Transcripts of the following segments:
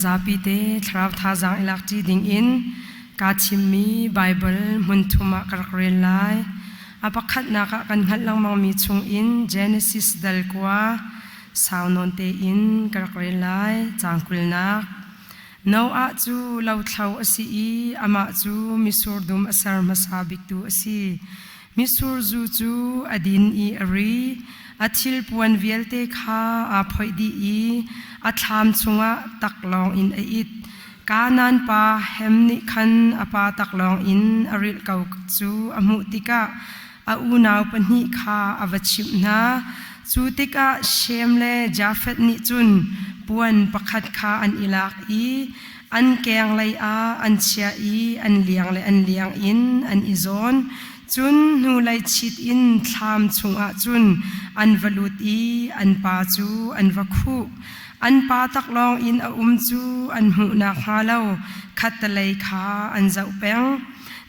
Zapite thlarau thazaang i lakṭi dingin kaa thimmi Baibal hmunthum ah ka rak rel lai. A pakhatnak ah kan hngalh lengmangmi chungin Genesis dal kua sau nawn tein ka rak rel lai. Caang kulnak, Noah cu lothlo a si i amah cu mitsur dum a ser hmasa biktu a si. Misur zu cu a din i a ri, a thilpuan vialte kha aa phoih dih i a thlam chungah taklawng in a it. Kanaan pa Hem nih khan a pa taklawng in a rilh ko cu a hmuh tikah a unau pahnih kha a va chimh hna. Cu tikah Shem le Jafeth nih cun puan pakhat kha an i lak i An keng lei ah an chiah i an liang le an liang in an i zawn. Cun hnulei chit in thlam chungah cun an va lut i an pa cu an va khuh. An pa taklawng in a um cu an hmuh nakhnga lo khattelei kha an zoh peng.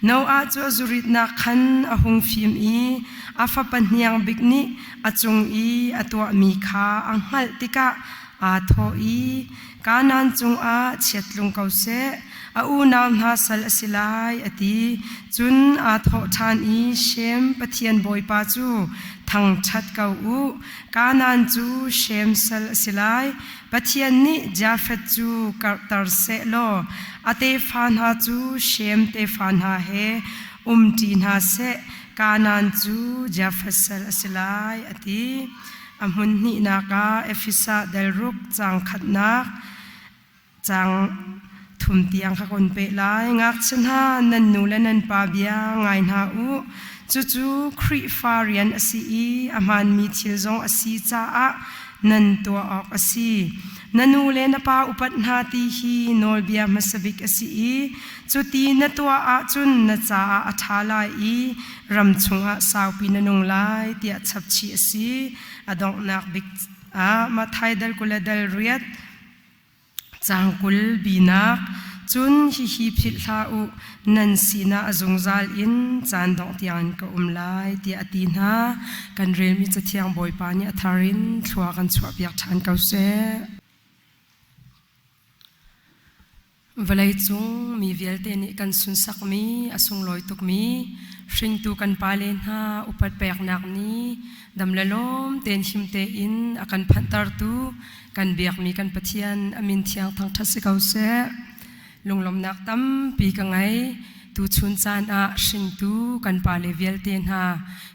Noah cu a zuritnak khan a hung fim i a fapa hniang bik nih a cung i a tuahmi kha a hngalh tikah aa thawh i, Kanaan cungah chiat tlung ko seh, a unau hna sal a si lai, a ti. Cun aa thawh ṭhan i, Shem Pathian Bawipa cu thangṭhat ko u, Kanaan cu Shem sal a si lai. Pathian nih Jafeth cu karhter seh law a tefa hna cu Shem tefa hna he umṭi hna seh, Kanaan cu Jafeth sal a si lai, a ti. A hmunhnihnak ah Efesa delruk caang khatnak caang thum tiang kha kan peh lai. Ngakchia hna, nan nu le nan pa bia ngai hna u. Cucu Khrihfa rian a si i a hmaanmi thil zong a si caah nan tuah awk a si. Na nu le na pa upat hna ti hi nawlbia hmasabik a si i cuti na tuah ahcun na caah a ṭha lai i ram chungah saupi na nung lai tiah chapchih a si a donghnak bik ah Matthai dal kul le dal riat cang kul binak cun hihi philh hlah u nan sinah a zungzal in caan dongh tiangin ka um lai tiah a ti hna kan relmi cathiang bawipa nih a thar in thlua kan chuahpiak ṭhan ko seh Vawleicung mi vialte nih kan sunsakmi a sunglawi tukmi hringtu kan pale hna upat peknak nih dam le lawm tein him tein a kan phanhtertu kan biakmi kan Pathian a min thiang thangṭhat si ko seh. Lunglawmnak tampi ka ngei. Tuchun caan ah hringtu kan pale vialte hna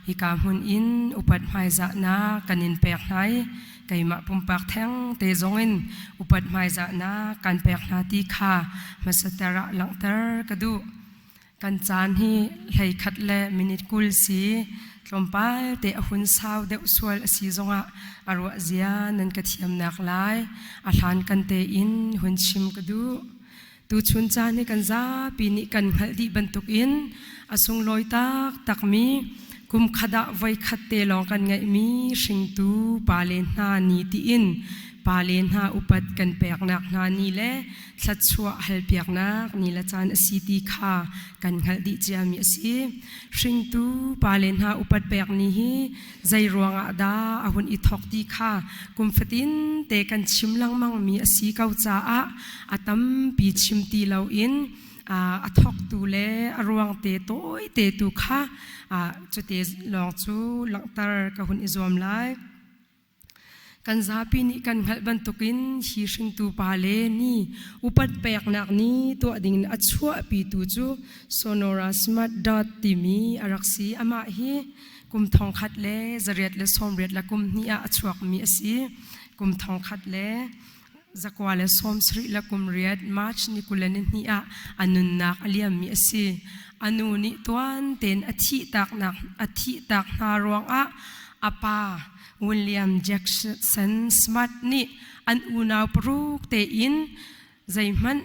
hika hmun in upat hmaizahnak kan in pek hna i keimah pumpak theng te zongin upat hmaizahnak kan pek hna ti kha hmasater ah langhter ka duh kan caan hi hlei khat le minute kul si tlawmpal te a hun sau deuh sual a si zongah a ruah zia nan ka thiamnak lai a hlan kan te in hun chim ka duh Tuchun caan hi kan zapi nih kan hngalh dih bantukin a sunglawi taktakmi kum khat ah voikhat te lawng kan ngeihmi hringtu pale hna ni tiin pale hna upat kan peknak hna ni le thluachuah halpiaknak ni le caan a si ti kha kan hngalh dih ciami a si. Hringtu pale hna upat pek ni hi Zei ruangah dah a hun i thawk ti kha kum fatin te kan chim lengmang mi a si ko caah a tampi chim ti loin a thawktu le a ruang te tawite tu kha cute lawng cu langhter ka hun i zuam lai. kan zapi nih kan hngalh bantukin hi hringtu pa le ni upat peknak ni tuah ding in a chuahpi tu cu Sonora Smart Dot timi a rak si amah hi kum thong khat le zariat le sawmriat la kum hnih ah a chuakmi a si kum thong khat le Zakwa le sawmsarih le kum riat March ni kule ni hni ah a nunnak a liammi a si. A nu nih tuan tein a thih tak hna ruangah a pa William Jackson Smart nih an unau paruk tein zeihmanh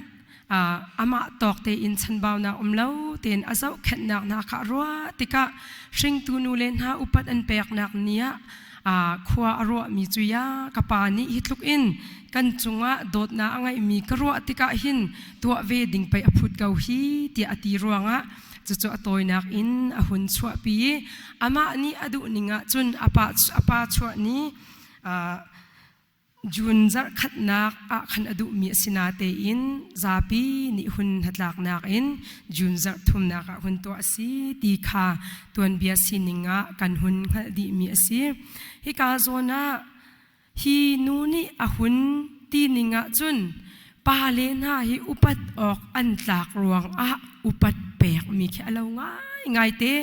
amah tawk tein chanbaunak um lo tein a zohkhenhnak hna kha a ruah tikah hringtu nu le hna upat an peknak ni ah khua a ruahmi cu ya ka pa nih hi tluk in kan cungah dawtnak a ngeihmi ka ruah tikah hin tuah ve ding pei a phut ko hi tiah a ti ruangah cucu a tawinak in a hun chuahpi i amah nih a duh ning ahcun a pa chuah ni June zarhkhatnak ah khan a duhmi a si natein zapi nih hun hnatlaknak in June zarh thumnak ah hun tuah a si ti kha tuanbia sining ah kan hun hngalh dihmi a si. Hika zawn ah hi nu nih a hun tining ahcun Pale hna hi upat awk an tlak ruangah upat pekmi khi a lo ngaingai te.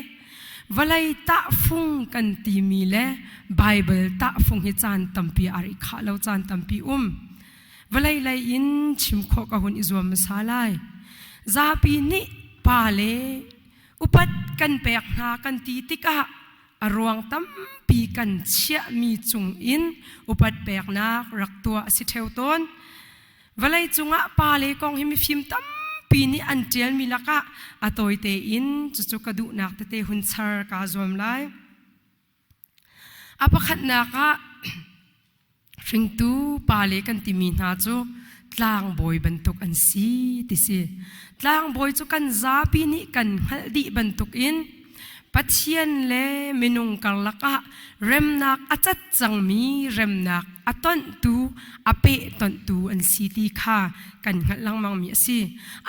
Vawlei tahfung kan timi le Baibal tahfung hi caan tampi a ri khah lo caan tampi um. Vawlei lei in chim khawh ka hun i zuam masa lai. Zapi nih pa le upat kan pek hna kan ti tikah A ruang tampi kan chiahmi cung in upat peknak rak tuah a si theo tawn. Vawlei cungah pa le kong hi mifim tampi nih an ṭialmi lakah a tawi tein cucu ka duhnak tete hun char kaa zuam lai. A pakhatnak ah Hringtu pale kan timi hna cu tlangbawi bantuk an si ti si. Tlangbawi cu kan zapi nih kan hngalh dih bantuk in Pathian le minung karlak ah remnak a cat cangmi remnak a tonhtu a pehtonhtu an si ti kha kan hngalh lengmangmi a si.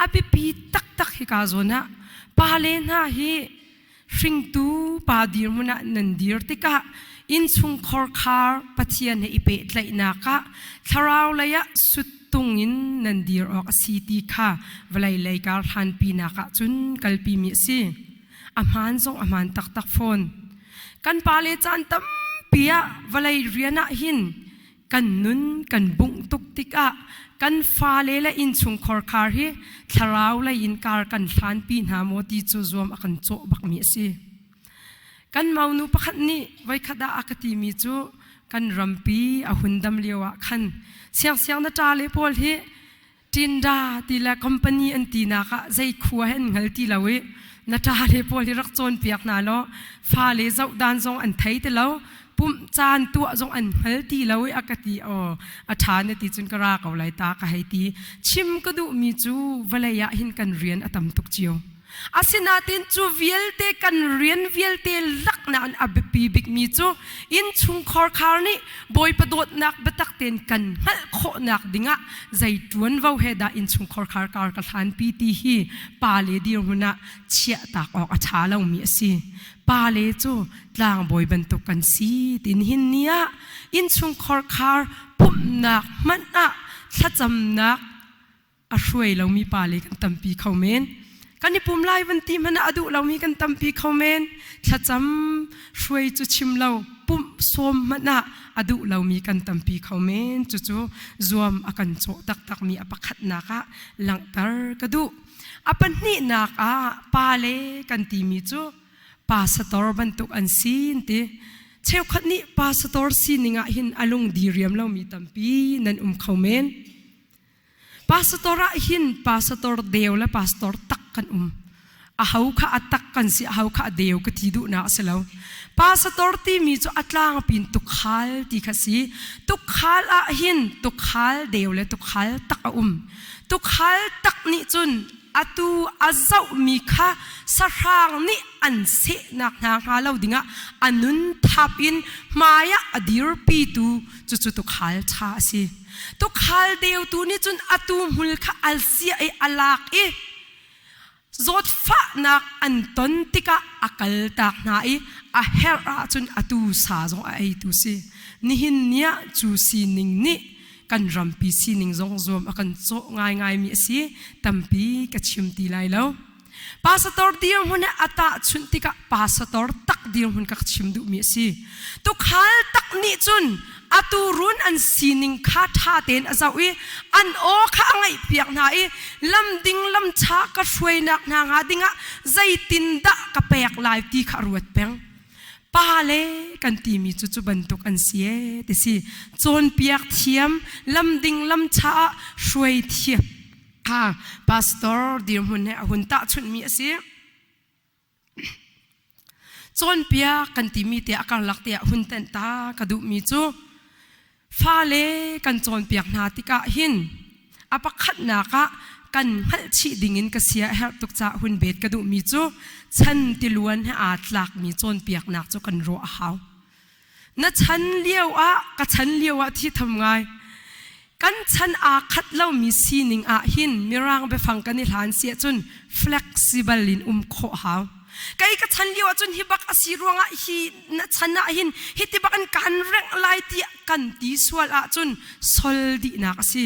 A biapi taktak hika zawn ah pale hna hi hringtu pa dirmun ah nan dir tikah innchungkhor khar pathian he i pehtlaihnak ah thlarau lei ah sut tung in nan dir awk a si ti kha vawlei lei kar hlanpinak ah cun kalpimi a si a hmaan zong a hmaan taktak fawn kan pale caan tampi ah vawlei rian ah hin kan nun kan bungh tuk tikah kan fale le innchungkhar khar hi thlarau lei in kar kan hlan pi hna maw ti cu zuam a kan cawh bakmi a si kan maunu pakhat nih voikhat ah a ka timi cu kan rampi a hun dam lio ah khan siangsiang na ta le pawl hi Tinda ti le company an ti nak ah zei khua he an ngal ti lo i na ta le pawl hi rak cawn piak hna law fa le zoh dan zong an thei ti lo pumh caan tuah zong an hmal ti lo i aka ti o a tha na ti cun ka ra ko lai ta ka hei ti chim ka duh mi cu vale ah hin kan rian a tam tuk cio Asinain cu vialte kan rian vialte lak nain a biapi bikmi cu innchungkhar khar nih Bawipa dawtnak biatak tein kan hngalh khawhnak dingah zei ṭuanvo he dah innchungkhar khar kar ka hlanpi ti hi pa le dirhmun ah chiahtak awk a ṭha lomi a si. Pa le cu tlangbawi bantuk kan si ti nihin ni ah innchungkhar khar pumhnak hmanh ah thlacamnak a hruai lomi pale kan tampi kho men kan i pum lai van ti hmanh a duh lomi kan tampi kho men thlacam hruai cu chim lo pumh sawm hmanh ah a duh lomi kan tampi kho men cucu zuam a kan cawh taktakmi a pakhatnak ah langhter ka duh a pahnihnak ah pa le kan timi cu pa sator bantuk an sin ti cheukhat nih pa sator sining ah hin a lung diriam lomi tampi nan um kho men Pastor ah hin pastor deu le pastor tak kan um a hau kha a tak kan si a hau kha a deu ka ti duh na si lo pastor timi cu a tlang pin tukhal ti kha si tukhal ah hin tukhal deu le tukhal tak a um tukhal tak nih cun atu a zoh mi kha sahrang nih an sehnak hna hnga lo dingah a nun thap in hmaiah a dirpi tu cucu tukhal tha a si Tukhal deutu nih cun atu hmul kha al sia i a lak i zawt fahnak an ton tikah a kal tak hna i a herh ahcun atu sa zong a eitu si nihin niah cu sining nih kan rampi sining zong zuam a kan cawh ngaingaimi a si tampi ka chim ti lai lo Pastor dirhmun a tahchunh tikah pastor tak dirhmun ka chim duhmi a si. Tukhal tak nih cun a turun an sining kha ṭha tein a zoh i an aw kha a ngaih piak hna i lam ding lam ṭha ka hruainak hna hnga dingah zeitindah ka pek lai ti kha a ruat peng. Pa le kan timi cu cu bantuk an si e ti si. Cawnpiak thiam, lam ding lam ṭha ah hruai thiam ha pastor dirhmun he a hun tahchunhmi a si cawnpia kan timi te a karlak tiah hun ten ta ka duhmi cu fale kan cawnpiak hna tikah hin a pakhatnak ah kan hngalhchih dingin ka sia herh tuk ca hun bet ka duhmi cu chan tiluan he aa tlakmi cawnpiaknak cu kan ruah hau Na chan lio ah ka chan lio ah thi tham ngai kan chan aa khat lomi sining ah hin mirang biafang kan i hlan si ahcun flexible in um khawh hau kei ka chan lio ahcun hi bak asi ruangah hi na chan ah hin hi ti bak in kan reng lai ti kan ti sual ahcun sol dihnak asi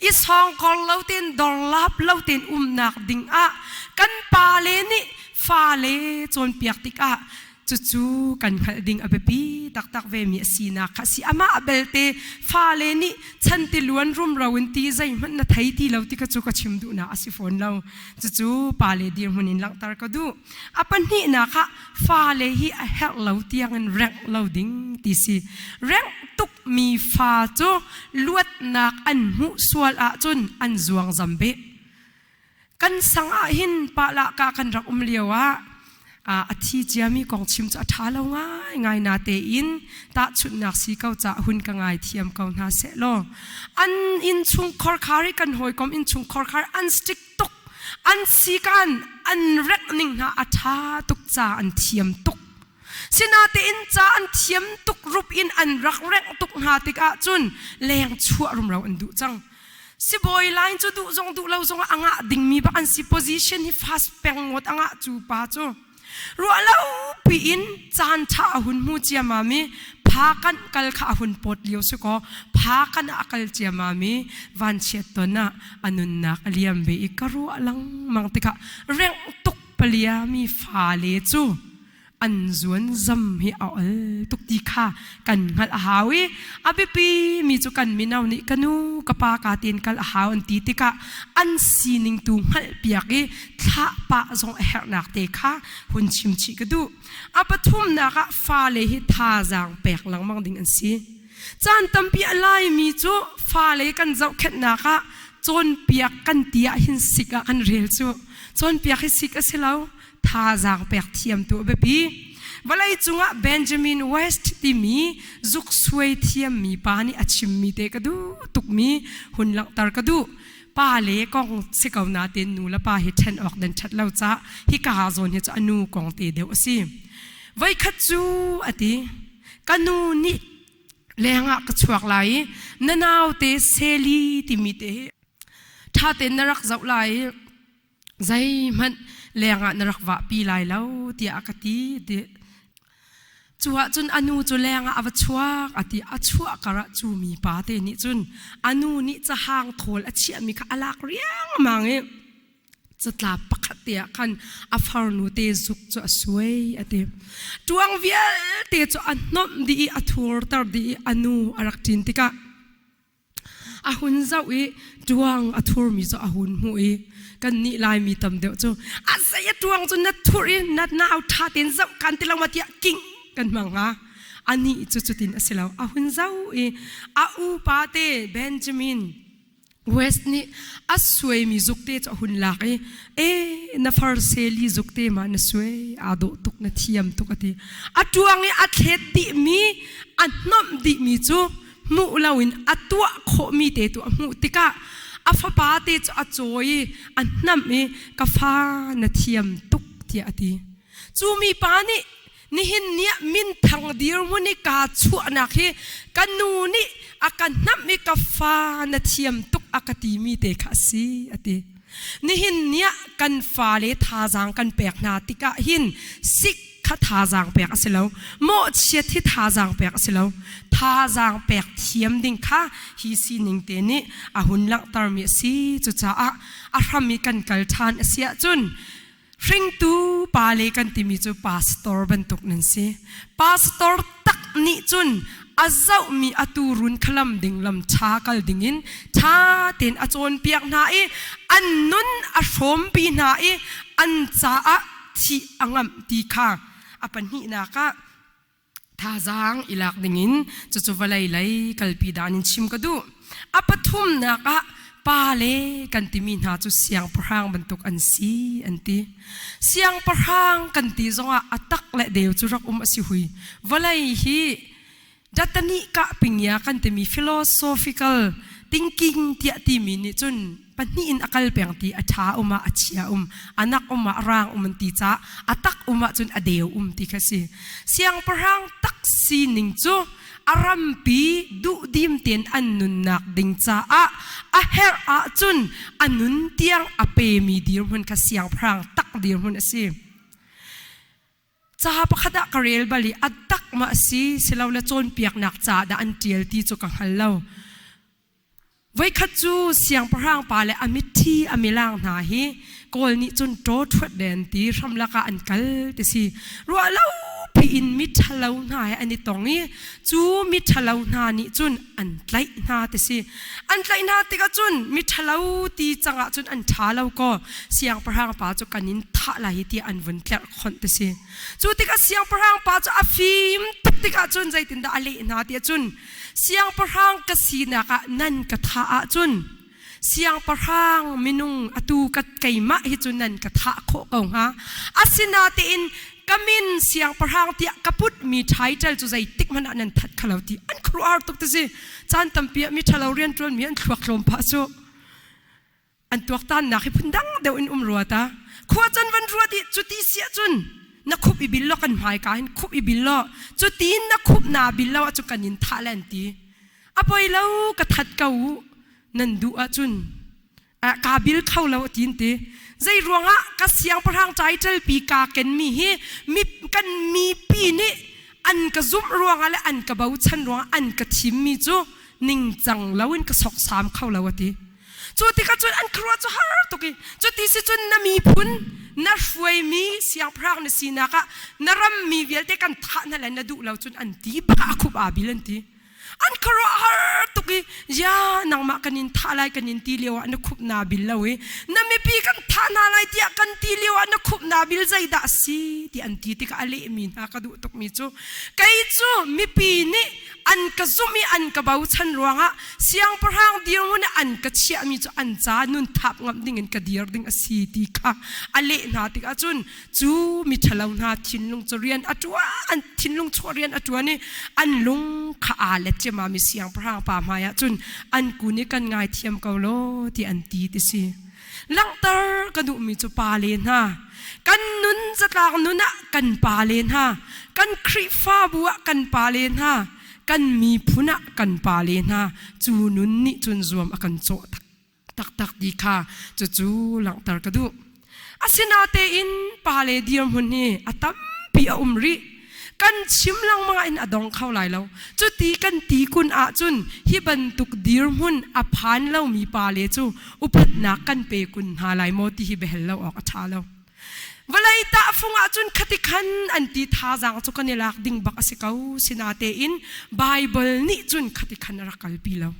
i sawngkor lo tein dorlap lo tein umnak ding ah kan pale nih fale cawnpiak tikah cucu kan hngalh ding a biapi taktak ve mi a sinak kha si amah belte fale nih chan ti luan rumro in ti zeihmanh na thei ti lo ti kha cu ka chim duhnak a si fawn lo cucu pale dirhmun in langhter ka duh a pahnih nak ah fale hi a herh lo tiangin rengh lo ding ti si rengh tukmi fa cu luatnak an hmuh sual ahcun an zuang zam be kan sang ah hin palaka kan rak um lio ah a thi ciami kong chim cu a ṭha lo ngai ngai na tein tahchunhnak si ko ca hun ka ngai thiam ko hna seh law an in chung khorkhar i kan hawikom in chung khorkhar an stick tuk an sikan an rek ning hna a tha tuk ca an thiam tuk sinatein ca an thiam tuk rup in an rak rek tuk hna tikah cun leng chuah rumro an duh cang sibawi line cu duh zong duh lo zong a ngah dingmi bak an si position hi fast peng ngawt angah cu pa cu ruahlopi in caan ṭha a hun hmu ciamam i pha kanh kal kha a hun pawt lio si kaw pha kan ah a kal ciamam i vanchiat ton ah a nunnak a liam ve i ka ruah lengmang tikah rengh tuk paliami fale cu an zuan zam hi a ol tuk ti kha kan hngalh a hau i a biapi mi cu kan mino nih ka nu ka pa ka tiin kal a hau an ti tikah an sining tu hngalh piak i thlah pa zong a herhnak te kha hun chim chih ka duh a pathumnak ah fale hi thazaang pek lengmang ding an si caan tampi a lai mi cu fale kan zohkhenhnak ah cawnpiak kan ti ah hin sik ah kan rel cu cawnpiak hi sik a si lo thazaang pek thiamtu a biapi vawlei cungah Benjamin West timi zuksuai thiammi pa nih a chimmi te ka duh tukmi hun langhter ka duh pa le kong si ko na te nu le pa hi ṭhen awk den ṭhat lo ca hi ka ha zawn hi cu a nu kong te deuh a si voikhat cu a ti ka nu nih lengah ka chuak lai i na naute seli timi te ṭha tein na rak zoh lai zeihmanh lengah na rak vahpi lai lo tiah a ka ti ti cu ahcun anu cu lengah a va chuak a ti a chuah karah cu mi pa te nih cun anu nih cahang thawl a chiahmi kha a lak riangmang i catla pakhat te ah khan a farnu te zuk cu a suai a ti ṭuang vialte cu a nomh dih i a thurter dih i anu a rak ṭin tikah A hun zoh i ṭuang a thurmi cu a hun hmuh i kan nih Laimi tam deuh cu a zei a ṭuang cu na thurh i na nau ṭha tein zoh kan ti lo ma tiah kingh kan hmang hnga. Anih cu cutin a si lo. A hun zoh i a upa te Benjamin West nih a suaimi zukte cu a hun lak i e na farseli zukte ma na suai aa dawh tuk na thiam tuk a ti. A ṭuang i a thlet dihmi a hnawmh dihmi cu hmuh loin a tuah khawhmi te tu a hmuh tikah a fapa te cu a cawi i a hnam i ka fa na thiam tuk tiah a ti cu mi pa nih nihin niah minthang dirhmun i kaa chuahnak hi ka nu nih a ka hnamh i ka fa na thiam tuk a ka timi te kha a si a ti Nihin ni ah kan fale thazaang kan pek hna tikah hin sik kha thazaang pek a si lo, mawhchiat hi thazaang pek a si lo. Thazaang pek thiam ding kha hi sining te nih a hun langhtermi a si. Cucaah a hram i kan kal ṭhan a si ahcun Hringtu pale kan timi cu pastor bantuk nan si. Pastor tak nih cun a zohmi a turun khalam ding lam tha kal dingin tha tein a cawnpiak hna i an nun a hrawmpi hna i an caah thih a ngamh ti kha a pahnihnak ah thazaang i lak dingin cucu vawlei lei kalpi dan in chim ka duh a pathumnak ah pa le kan timi hna cu siangpahrang bantuk an si an ti siangpahrang kan ti zongah a tak le deu cu rak um a si hui vawlei hi datani kah pingia kan timi philosophical thinking tiah timi nih cun pahnih in a kal peng ti a ṭha um ah a chia um anak um ah rang um an ti ca a tak um ah cun a deu um ti kha si siangpahrang tak sining cu a rampi duhdim tein an nunnak ding caah a herh ah cun a nun tiang a pemi dirhmun kha siangpahrang tak dirhmun a si Caha pakhat ah ka rel bal i a tak ma a si silole cawnpiaknak ca dah an ṭial ti cu ka hngal lo. Voikhat cu siangpahrang pa le a mitthi a milang hna hi kawl nih cun ṭaw ṭhuat den ti hramlak ah an kal ti si ruah lo piin miṭhalo hna he an i tong i cu miṭhalo hna nih cun an tlaih hna ti si an tlaih hna tikah cun miṭhalo ti cangah cun an ṭha lo kaw siangpahrang pa cu kan in thah lai hi ti an vun tlerh khonh ti si cu tikah siangpahrang pa cu a fim tuk tikah cun zeitindah a leh hna tiah cun siangpahrang ka sinak ah nan ka thah ah cun siangpahrang minung atu ka keimah hi cu nan ka thah khawh ko hnga asinatein ka min siangpahrang tiah ka put mi title cu zei tik hmanh ah nan that khalo ti an khruar tuk ti si caan tampi ah mi thalo rian tuan mi an thluak tlawm pha su An tuaktannak hi phundang deuh in um rua ta. Khua can van ruat i cu ti siah cun na khup i bil law kan hmaika hin khup i bil law cu ti in na khup naa bil lo ahcun kan in thah le an ti. A poi lo ka that ko u nan duh ahcun kaa bil kho lo a tin ti. Zei ruangah ka siangpahrang caiṭelpi kaa kenmi hi mi, kan mipi nih an ka zumh ruangah le an ka bochan ruangah an ka thimmi cu ningcang loin ka soksam kho lo a ti. Cu tikah cun an khuaruah cu har tuk i cu ti si cun na miphun na hruaimi siangpahrang na sinak ah na rammi vialte kan thah hna le na duh lo cun an ti pah khup aa bil an ti an khuaruah har tuk i ya nangmah kan in thah lai kan in ti lio ah na khup naa bil lo i na mipi kan thah hna lai tiah kan ti lio ah na khup naa bil zeidah a si ti an ti tikah a lehmi hna ka duh tukmi cu kei cu mipi nih an ka zumh i an ka bochan ruangah siangpahrang dirhmun i an ka chiahmi cu an ca nunthap ngamh dingin ka dir ding a si ti kha a leh hna tikah cun cu miṭhalo hna thinlung cu rian a ṭuan an thinlung chuah rian a ṭuan i an lung kha aa let ciamami siangpahrang pa hmaiah cun an kun i kan ngaithiam ko law ti an ti ti si Langhter ka duhmi cu pale hna, kan nun zatlang nun ah kan pale hna, kan Khrihfabu ah kan pale hna, kan miphun ah kan pale hna, cu nun nih cun zuam a kan cawh tak, taktak ti kha cucu langhter ka duh. Asinatein pale dirhmun hi a tampi a um rih. kan chim lengmang ah in a dong kho lai lo cu ti kan ti kun ah cun hi bantuk dirhmun a phan lomi pa le cu upatnak kan pe kun hna lai maw ti hi behel lo awk a ṭha lo vawlei tahfung ah cun khati khan an ti thazaang cu kan i lak ding bak a si ko sinatein Bible nih cun khati khan a rak kalpi lo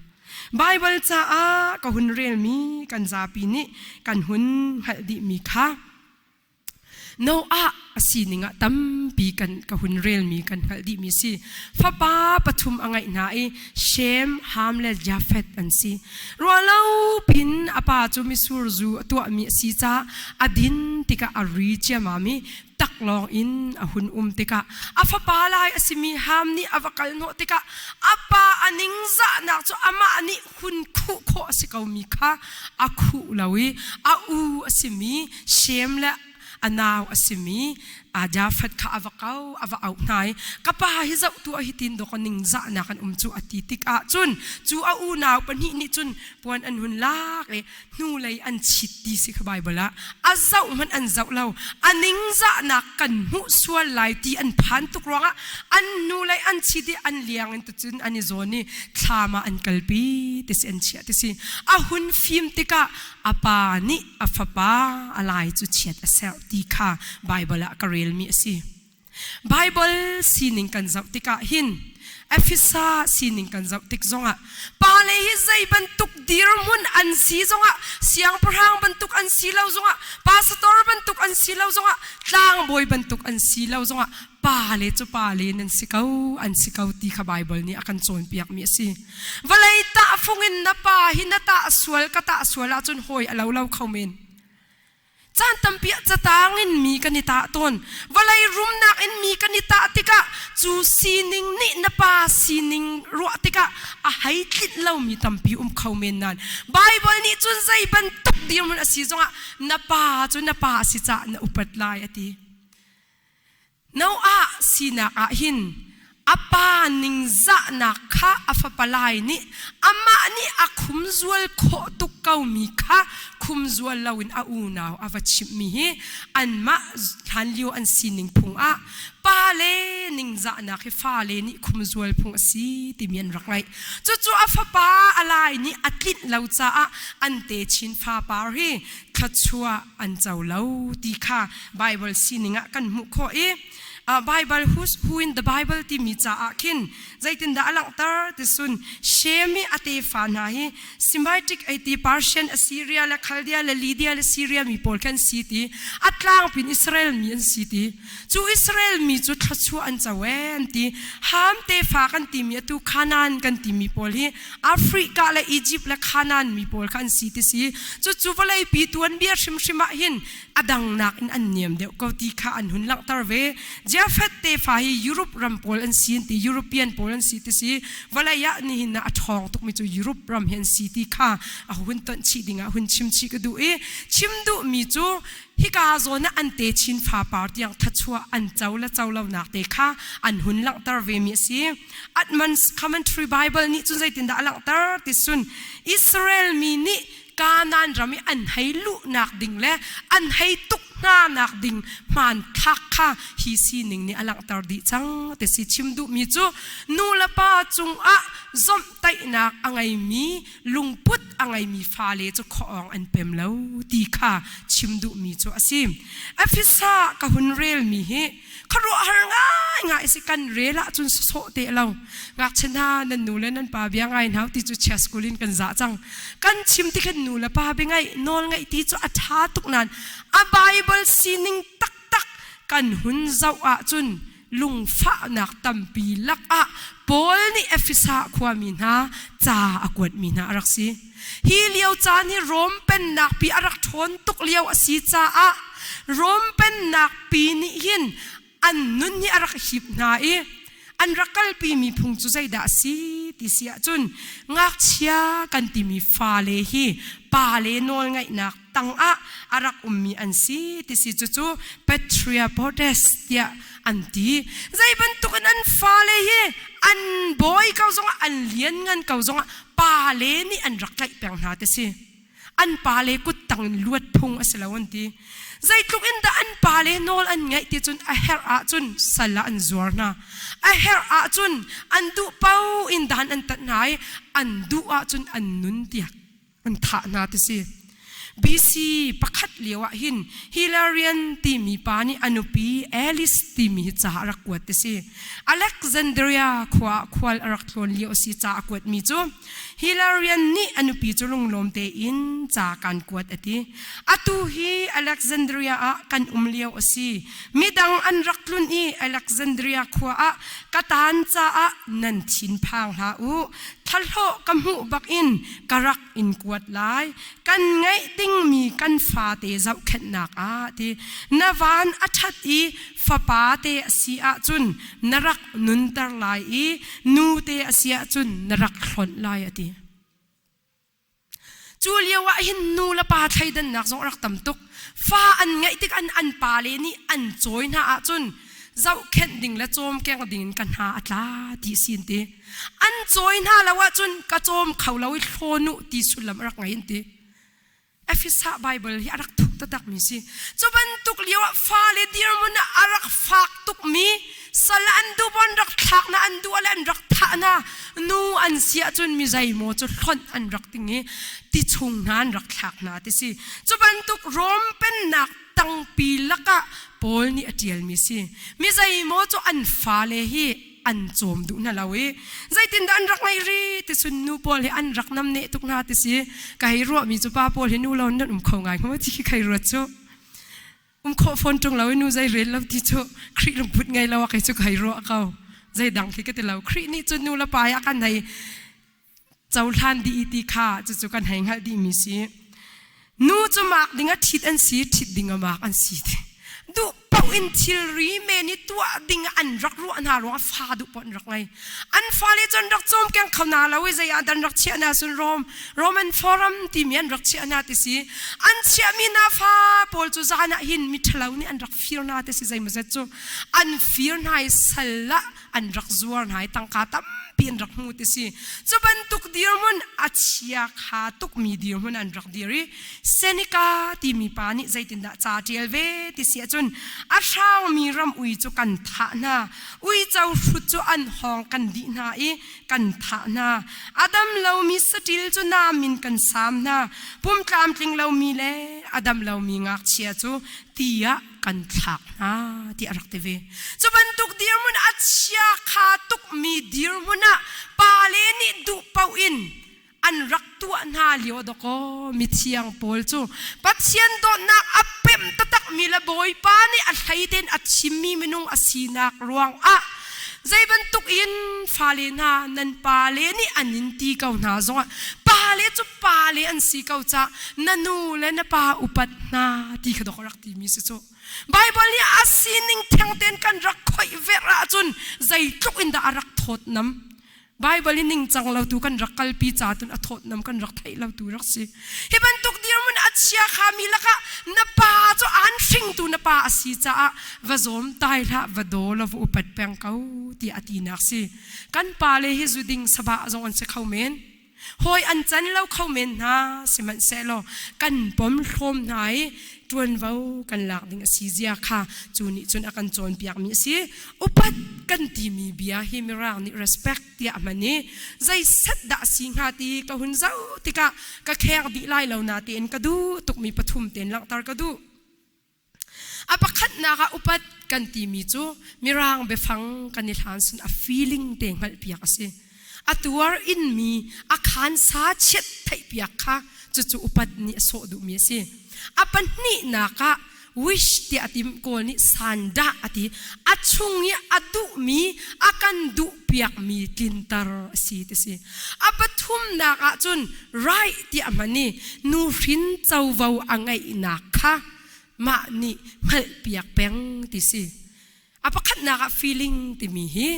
Bible caah ka hun relmi kan zapi nih kan hun hngalh dihmi kha Noah a sining ah tampi kan ka hun relmi kan hngalh dihmi si. Fapa pathum a ngeih hna i Shem, Ham le Jafeth an si. Ruahlo pin a pa cu misur zu a tuahmi a si caah a din tikah a ri ciamam i taklawng in a hun um tikah a fapa lai a simi Ham nih a va kal hnawh tikah a pa a ningzahnak cu amah nih hun khuh khawh a si komi kha a khuh lo i a u a simi Shem le a nau a simi Jafet kha a va kau a va auh hna i ka pa hi zohtu ah hitin dawk ningzahnak an um cu a ti tikah cun cu a unau pahnih nih cun puan an hun lak i hnulei an chit ti si kha Baibal ah a zoh hmanh an zoh lo a ningzahnak kan hmuh sual lai ti an phan tuk ruangah an hnulei an chit i an liang in tucun an i zawn i thlam ah an kalpi ti si an chiah ti si a hun fim tikah a pa nih a fapa a lai cu chiat a serh ti kha Baibal ah ka relmi a si Baibal sining kan zoh tikah hin Efesa sining kan zoh tik zongah pa le hi zei bantuk dirhmun an si zongah siangpahrang bantuk an si lo zongah pastor bantuk an si lo zongah tlangbawi bantuk an si lo zongah pa le cu pa le nan si ko an si ko ti kha Baibal nih a kan cawnpiakmi a si vawlei tah fung in na pa hi na tah sual ka tah sual ahcun hoi a lo lo kho men Caan tampi ah catang in mi kan i tah tawn. Vawlei rumnak in mi kan i tah tikah cu sining nih na pa sining ruah tikah a hei tlinh lomi tampi um kho men nan. Bible nih cun zei bantuk dirhmun a si zongah na pa cu na pa a si caah na upat lai a ti. Noah sinak ah hin a pa ningzahnak kha a fapalai nih amah nih a khumzual khawh tuk komi kha khumzual loin a unau a va chimhmi hi anmah hlanlio an sining phung ah pa le ningzahnak hi fale nih khumzual phung a si timi an rak ngaih cucu a fapa a lai nih a tlinh lo caah an techin fapar hi thluachuah an co lo ti kha Baibal sining ah kan hmuh khawh i Baibal who's who in the Bible timi caah khin zeitindah a langhter ti sun shame i a tefa hna hi semitic ai ti Persian Assyria le Chaldea le Lydia le Syria mi pawl khan si ti a tlangpin Israel mi an si ti Cu Israel mi cu thluachuah an co ee an ti. Ham tefa kan timi atu Kanaan kan timi pawl hi Africa le Egypt le Kanaan mi pawl kha an si ti si. Cucu vawlei pi tuanbia hrimhrim ah hin a dangnak in an niam deuh ko ti kha an hun langhter ve. Jafet tefa hi Europe ram pawl an si an ti, European pawl an si ti si. Vawlei ah nihin ah a ṭhawng tukmi cu Europe ram hi an si ti kha a hun tonh chih ding ah hun chim chih ka duh i chim duhmi cu Hika zawn ah an techin fapar tiang thachuah an co le co lonak te kha an hun langhter vemi a si. Admons Commentary Bible nih cun zeitindah a langhter ti sun Israel mi nih Kanaan ram i an hei luhnak ding le an hei tuk hnanak ding hmanthlak kha hi sining nih a langhter dih cang ti si chim duhmi cu nu le pa cungah zomhtaihnak a ngeimi lungput a ngeimi fale cu khawng an pem lo ti kha chim duhmi cu a si afisa ka hun relmi hi ka ruahar ngai ngai si kan rel ahcun sawh te lo ngakchia hna nan nu le nan pa bia ngai hau ti cu chia school in kan za cang kan chim ti khan nu le pa bi ngai nawl ngai ti cu a tha tuk nan a bible sining taktak kan hun zoh ahcun lungfahnak tampi lakah Paul nih Efesa khuami hna ca a kuatmi hna a rak si. Hi lio caan hi Rom pennak pi a rak ṭhawn tuk lio a si caah Rom pennak pi nih hin an nun hi a rak hip hna i an rak kalpi mi phung cu zeidah a si ti si ahcun ngakchia kan timi fale hi pa le nawl ngaihnak tangah a rak ummi an si tisi cucu Patria Potest tiah an ti. Zei bantuk in an fale hi an bawi ko zongah an lianngan ko zongah pale nih an rak tlaih peng hna tisi. An pale kut tang in luat phung a si lo an ti. Zeitluk in dah an pale nawl an ngaih ti cun a herh ahcun sal ah an zuar hna. A herh ahcun an duh paoh in dan an tat hna i an duh ahcun an nun tiak. an thah hna ti si BC pakhat lio ah hin Hilarion timi pa nih a nupi Alice timi hi ca a rak kuat ti si Alexandria khua ah khual a rak tlawn lio si ca a kuat mi cu Hilarion nih a nupi cu lunglawm tein ca kan kuat a ti atu hi Alexandria ah kan um lio a si midang an rak tlun i Alexandria khua ah katan ca ah nan thin phang hlah u Thlahlawh ka hmuh bakin ka rak in kuat lai. Kan ngeih dingmi kan fate zohkhenhnak ah ti na van a ṭhat i fapa te a si ahcun na rak nunter lai i nute a si ahcun na rak hlonh lai a ti. Cu lio ah hin nu le pa thleidannak zong a rak tam tuk. Fa an ngeih tikah an pale nih an cawi hna ahcun zohkhenh ding le cawmkeng ding in ka hna a tla ti si an ti. An cawi hna lo ahcun ka cawm kho lo i thlawn u ti sullam a rak ngei an ti. Efesa Baibal hi a rak thuk taktakmi si. Cu bantuk lio ah fale dirhmun ah a rak fak tukmi sal an duh an rak thlakna an duh le an rak thahna nu an si ahcun mi zeimaw cu hlonh an rak ding i ti chung hna an rak thlak hna ti si cu bantuk rom pennak tangpi lakah paul nih a ṭialmi si mi zeimaw cu an fale hi an cawm duh hna lo i zeitindah an rak ngei ri ti sun nu paul hi an rak nam ne tuk hna ti si kai ruahmi cu pa paul hi nu lo nan um kho ngai ko ci kai ruat cu um khawh fawn ṭung lo i nu zei rel lo ti cu Khrih lungput ngei lo a kei cu kai ruah ko zeidang khi ka ti lo Khrih nih cun nu le pa i a kan hei cohlan dih ti kha cucu kan hei hngalh dih mi si nu cu mark ding a ṭhit an si ṭhit ding a mark an si te duh paoh in thilri men i tuah ding an rak ruah hna ruang a fa duh paoh an rak ngei an fale cun rak cawm keng kho na lo i zei ah dan rak chiah na sun Rom Roman Forum timi an rak chiah na ti si an chiah mi na fa pawl cu zan ah hin mi ṭhalo nih an rak fir na te si zei mazet cu an fir na i sal la an rak zuar na i tangka tampi an rak hmu ti si cu bantuk dirmun a chia kha tuk mi dirmun an rak dir i Seneca timi pa nih zeitindah ca ṭial ve ti si ahcun a hrang mi ram ui cu kan thah na Uico hrut cu an hawng kan dih hna i kan thah hna. A dam lomi saṭil cu nam in kan sam hna. Pum tlamtling lomi le a dam lomi ngakchia cu tiah kan thlak hna tiah a rak ti ve. Cu bantuk dirhmun a chia kha tukmi dirhmun ah pale nih duh paoh in an rak tuah hna lio dawkaw mithiang pawl cu Pathian dawtnak a pemh taktakmi le Bawipa nih a hleiden a chimmi minung a sinak ruangah zei bantuk in fale hna nan pale nih an in ti ko hna zongah pale cu pale an si ko cah na nu le na pa upat hna ti kha dok rak timi si cu Bible nih a sining thengten kan rak khoih vek ahcun zeitluk in dah a rak thawt nam Baibal i ningcang lo tu kan rak kalpi ca tun a thawtnam kan rak thei lo tu rak si. Hi bantuk dirmun a chia kha mi lakah na pa cu an hringtu na pa a si caah va zawm tai hlah va do lo va upat peng ko ti a ti nak si. Kan pa le hi zu ding saba zong an si kho men. Hoi an can lo kho men hna sihmanhsehlaw kan pom hlom hna i ṭuanvo kan lak ding a si zia kha cu nih cun a kan cawnpiakmi a si upat kan timi bia hi mirang nih respect tiah a hman i zei set dah si hnga ti ka hun zoh tikah ka khek dih lai lo na tein ka duh tukmi pathum ten langhter ka duh a pakhatnak ah upat kan timi cu mirang biafang kan i hlan sun a feeling te hngalhpiak a si a tuar inmi a khansa chiat theihpiak kha cucu upat nih a sawh duhmi a si a pahnihnak ah wish tiah a tim kawl nih sandah a ti a chung i a duhmi a kan duhpiakmi tlinter a si ti si a pathumnak ah cun right tiah hman i nuhrin covo a ngeihnak kha mah nih hngalhpiak peng ti si a pakhatnak ah feeling timi hi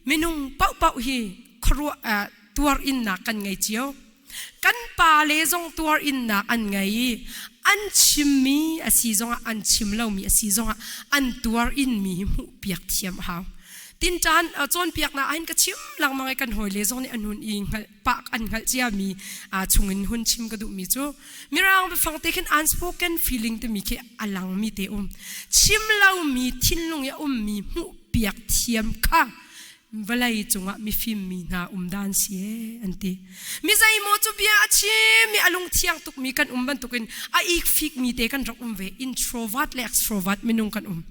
minung pauh hi khuaruah tuar innak kan ngei cio kan pa le zong tuar innak an ngei i an chimmi a si zongah an chim lomi a si zongah an tuar inmi hi hmuh piak thiam hau tin tan cawnpiakna ahin ka chim langmang i kan hawile zong nih anun i hngalh pak an hngalh cia mi a chung in hun chim ka duh mi cu mirang bifang te khin unspoken feeling te mi khi alang mi te um chim lo mi thinlung ya um mi mu piak thiam kha vawlei cungah mifim mi hna um dan si an ti mi zai mo chu bia a chi mi alung thiang tuk mi kan um ban tukin a ik fik mi te kan rak um ve introvert le extrovert minung kan um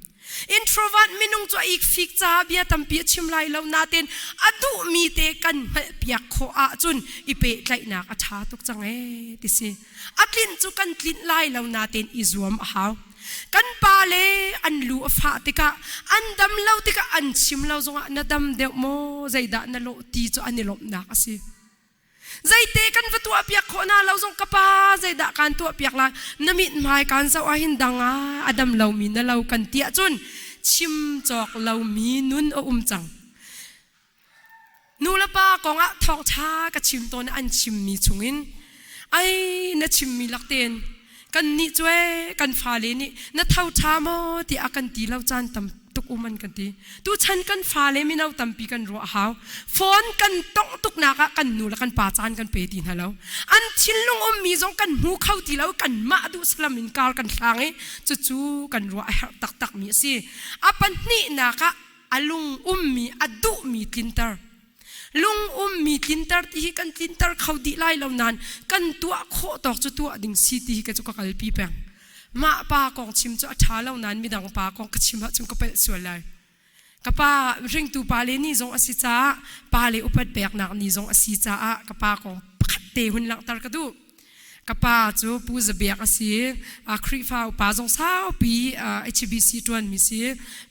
Introvert minung cu a ikfik caah bia tampi a chim lai lo nain a duhmi te kan hngalhpiak khawh ahcun i pehtlaihnak a ṭha tuk cang ee ti si. A tlinh cu kan tlinh lai lo nain i zuam a hau. Kan pa le an lu a fah tikah an dam lo tikah an chim lo zongah na dam deuh maw zeidah na lawh ti cu an i lawmhnak a si. Zeite kan va tuahpiak khawh hna lo zong ka pa zeidah kaan tuahpiak lai na mit hmai kaan zoh ah hin dang ah a dam lomi na lo kan tiah cun chim cawk lomi nun a um cang nu le pa kong ah thawngṭha ka chim tawn an chimmi chungin ai na chimmi laktein kan nih cue kan fale nih na tho tha maw ti a kan ti lo caan tam tuk um an kan ti tu chan kan fale mino tampi kan ruah hau phone kan tong tuk nak ah kan nu le kan pa caan kan pe ti hna lo an thinlung um mi zong kan hmu kho ti lo kan mah du salam in kar kan thlang i cu cu kan ruah a herh tak tak mi a si a pahnih nak ah a lung um mi a duh mi tlinter lungum mi tlinter ti hi kan tlinter kho dih lai lo nain kan tuah khawh tawk cu tuah ding si ti hi ka cu ka kalpi peng mah pa kong chim cu a ṭha lo nain midang pa kong ka chim hah cun ka pelh sual lai ka pa hringtu pa le ni zong a si caah pa le upat peknak ni zong a si caah ka pa kong pakhat te hun langhter ka duh ka pa cu pu zabiak a si a khrihfa upa zong saupi HBC tuan mi si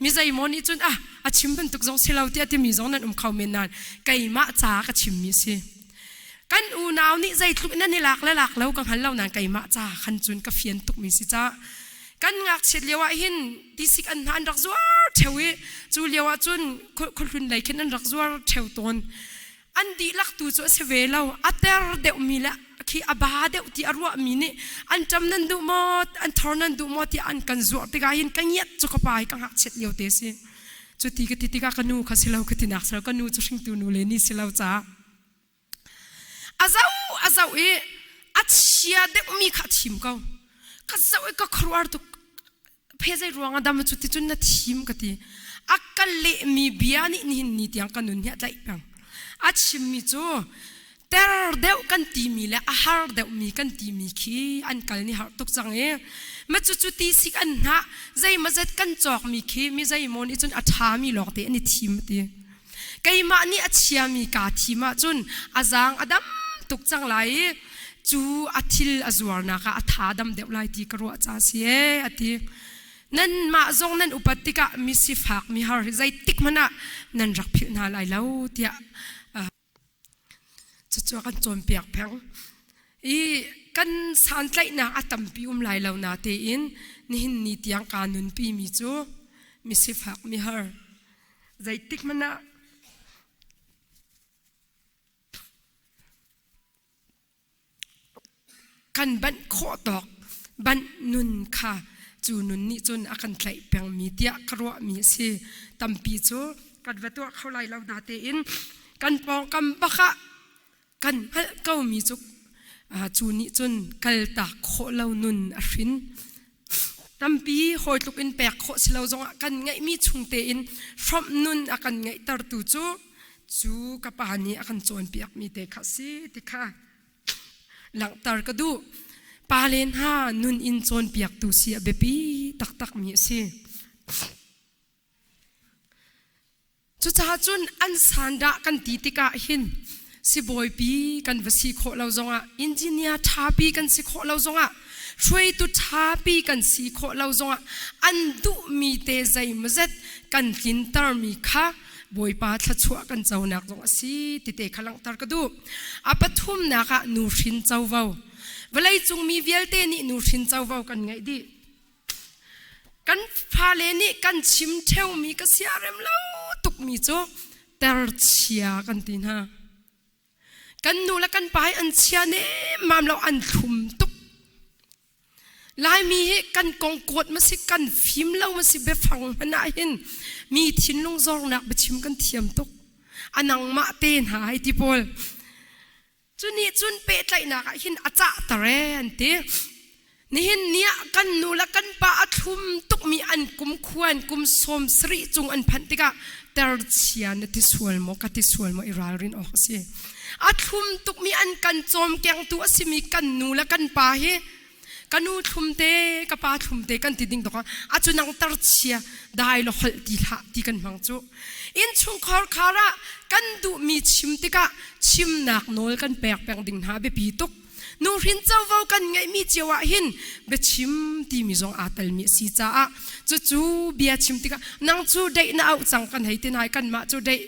mi zeimawh nih cun ah a chim bantuk zong si lo tiah timi zong nan um kho men nan keimah ca ka chim mi si kan unau nih zeitluk nan i lak le lak lo ka hngal lo nan keimah ca khan cun ka fian tuk mi si ca kan ngakchiat lio ah hin tisik an hna an rak zuar theo i cu lio ah cun khulhlun lei khin an rak zuar theo tawn an dihlak tu cu a si ve lo a ter deuhmi le khi a ba deuh ti a ruahmi nih an ṭam nan duh maw an thor nan duh maw tiah an kan zuarh tikah hin ka ngiat cu ka pai ka ngakchiat lio te si cu ti ka ti tikah ka nu kha si lo ka ti nak si lo ka nu cu hringtu nu le ni si lo ca a zau a zau i a chia deuhmi kha thim ko ka zau i ka khuaruar tuk phe zei ruang ah dam cu ti cun na thim ka ti a ka lehmi bia nih nihin ni tiang ka nun hi a tlaih peng a chimmi cu ter deuh kan timi le a har deuhmi kan timi khi an kal ni har tuk cang i ma cu cu ti sik an hna zeima zet kan cawkmi khi mi zei maw nih cun a ṭhami lawng te an i thim ti keimah nih a chiami kaa thim ahcun a zaang a dam tuk cang lai i cu a thil a zuarnak ah a tha dam deuh lai ti ka ruah ca si e a ti nanmah zong nan upat tikah mi sifak mi har zeitik hmanh ah nan rak philh hna lai lo tiah Cucu a kan cawnpiak peng. I kan santlaihnak a tampi um lai lo na tein nihin ni tiang kaa nunpi mi cu misifak mihar. Zeitik hmanh ah kan banh khawh tawk banh nun kha cu nun nih cun a kan tlaih pengmi tiah ka ruahmi a si tampi cu kan va tuah kho lai lo na tein kan pawngkam bakah kan hngalh komi cu cu nih cun kaltak khawh lo nun a hrin tampi hawi tluk in pek khawh si lo zongah kan ngeihmi chung tein hrawmh nun a kan ngeihtertu cu cu ka pa nih a kan cawnpiak mi te kha si ti kha langhter ka duh pa le hna nun in cawnpiaktu si a biapi taktak mi a si Cucaah cun an sandah kan ti tikah hin sibawipi kan va si khawh lo zongah engineer thapi kan si khawh lo zongah hruaitu thapi kan si khawh lo zongah an duhmi te zeimazet kan tlintermi kha Bawipa thluachuah kan conak zong a si tite kha langhter ka duh. A pathumnak ah nuhrin covo. Vawleicung mi vialte nih nuhrin covo kan ngeih dih. Kan fale nih kan chim ṭheumi ka siarem lo tukmi cu terchia kan ti hna. Kan nu le kan pa hi an chia nemmam lo, an thlum tuk. Laimi hi kan kong kuat ma si, kan fim lo ma si, biafang hmanh ah hin mi thinlung zornak biachim kan thiam tuk. A nangmah te hna hai ti pawl. cu nih cun pehtlaihnak ah hin a cahter ee an ti nihin ni ah kan nu le kan pa a thlum tukmi an kum khuan kum sawm sarih cung an phanh tikah terchia na ti sual maw ka ti sual maw i ralrin awk a si a thlum tukmi an kan cawm kengtu a simi kan nu le kan pa hi ka nu thlumte ka pa thlumte kan ti ding tawk a cu nang tar chia dai lo hol ti hla ti kan hmang cu in chung khor khara kan duh mi chim tikah chimnak nawl kan pek peng ding hna biapi tuk nu hrin chovo kan ngei mi cio ah hin bia chim ti mi zong aa tel mi si caah cu cu bia chim tikah nang cu dei na auh cang kan hei tinai kan mah cu dei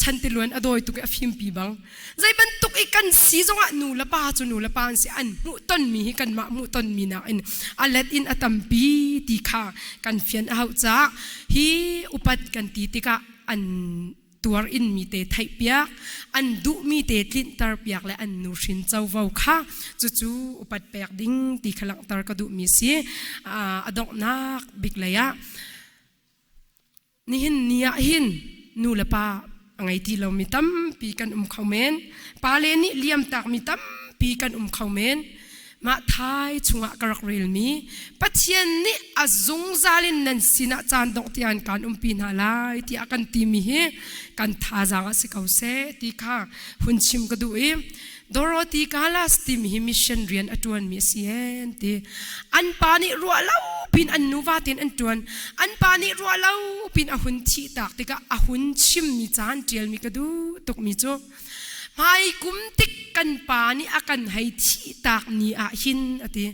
chan ti luan a dawi tuk a fim pi bang Zei bantuk i kan si zongah nu le pa cu nu le pa an si an hmuhtonmi hi kanmah hmuhtonmi nakin a let in a tampi ti kha kan fian a hau caah hi upat kan ti tikah an tuar inmi te theihpiak an duhmi te tlinter piak le an nuhrin covo kha cucu upat pek ding ti kha langhter ka duhmi si a donghnak bik lei ah nihin ni ah hin nu le pa a ngei ti lo mi tampi kan um kho men pa le nih liam tak mi tampi kan um kho men mah thai chungah ka rak rel mi pathian nih a zungzal in nan sinah caan dongh tian kan um pi hna lai tiah kan ti mi hi kan thazaang a si ko se ti kha hun chim ka duh i Dorothy Calas tim hi mission rian a tuan mi a si an ti an pa nih ruah lo pin an nuva ten an tuan an pa nih ruah lo pin a hun thi tak tikah a hun chim mi caan tial mi ka du tuk mi cu hmai kum tik kan pa nih a kan hei thi tak ni ah hin a ti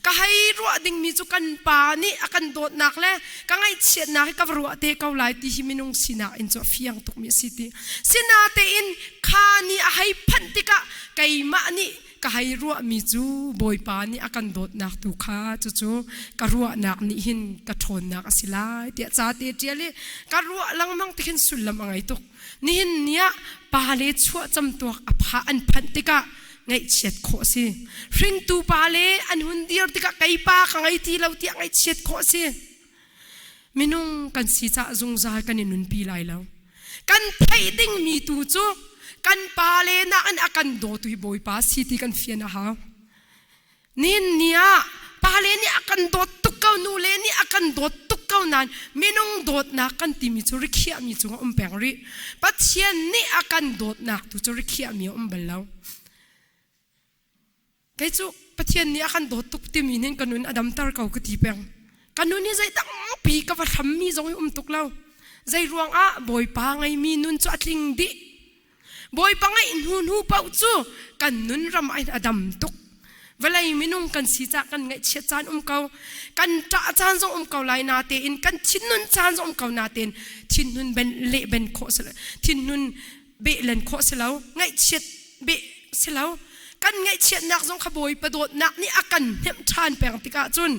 ka hei ruah dingmi cu kan pa nih a kan dawtnak le ka ngaihchiatnak hi ka va ruah te ko lai ti hi minung sinak in cu a fiang tukmi a si ti sinatein kha ni a hei phanh tikah keimah nih ka hei ruahmi cu bawipa nih a kan dawtnak tu kha cucu ka ruahnak nih hin ka ṭhawnnak a si lai tiah ca te ṭial i ka ruah lengmang tikhin sullam a ngei tuk Nihin ni ah pale chuah camtuak a pha an phanh tikah ngaihchiat khawh a si. Hringtu pale an hun dir tikah kei pa ka ngei ti lo tiah ngaihchiat khawh a si. Minung kan si caah zungzal kan i nunpi lai lo. Kan theih dingmi tu cu kan pale nak in a kan dawtu hi Bawipa si ti kan fian a hau. Ninni ah pale nih a kan dawt tuk ko, nule nih a kan dawt tuk ko nain minung dawtnak kan timi cu rikhiahmi cung a um peng rih. Pathian nih a kan dawtnak tu cu rikhiahmi a um bal lo. Kei cu Pathian nih a kan dawt tuk timi nin ka nun a damter ko ka ti peng. Ka nun hi zei tampi ka va hrammi zong i um tuk lo. Zei ruangah Bawipa ngeimi nun cu a tling dih. Bawipa ngaih hnu hnu paoh cu kan nun ram ai a dam tuk. Vawlei minung kan si ca kan ngaihchiat caan um ko. Kan ṭah caan zong um ko lai na tein kan thinhun caan zong um ko na tein thinhun ben le ben khawh si lo thinhun beh len khawh si lo ngaihchiat beh si lo kan ngaihchiatnak zong kha Bawipa dawtnak nih a kan hnemh ṭhan peng tikah cun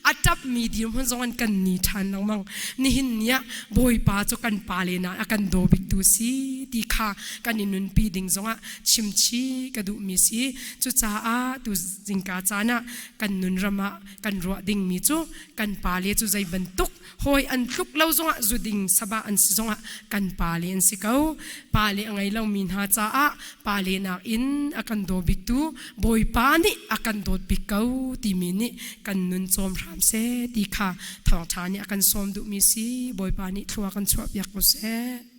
a ṭapmi dirhmun zong in kan ni ṭhan lengmang. Nihin ni ah Bawipa cu kan pa le na a kan dawbiktu si ti kha kan i nunpi ding zongah chimchi ka duhmi si. Cucaah tu zingka caan ah kan nun ram ah kan ruah dingmi cu kan pa le cu zei bantuk hawi an tluk lo zongah zuding saba an si zongah kan pa le an si ko pa le a ngei lomi hna caah pa le nak in a kan daw biktu bawipa nih a kan dawt bik ko timi nih kan nun cawm hram se ti kha thawngtha nih a kan sawm duhmi si bawipa nih thlua kan chuah piak ko seh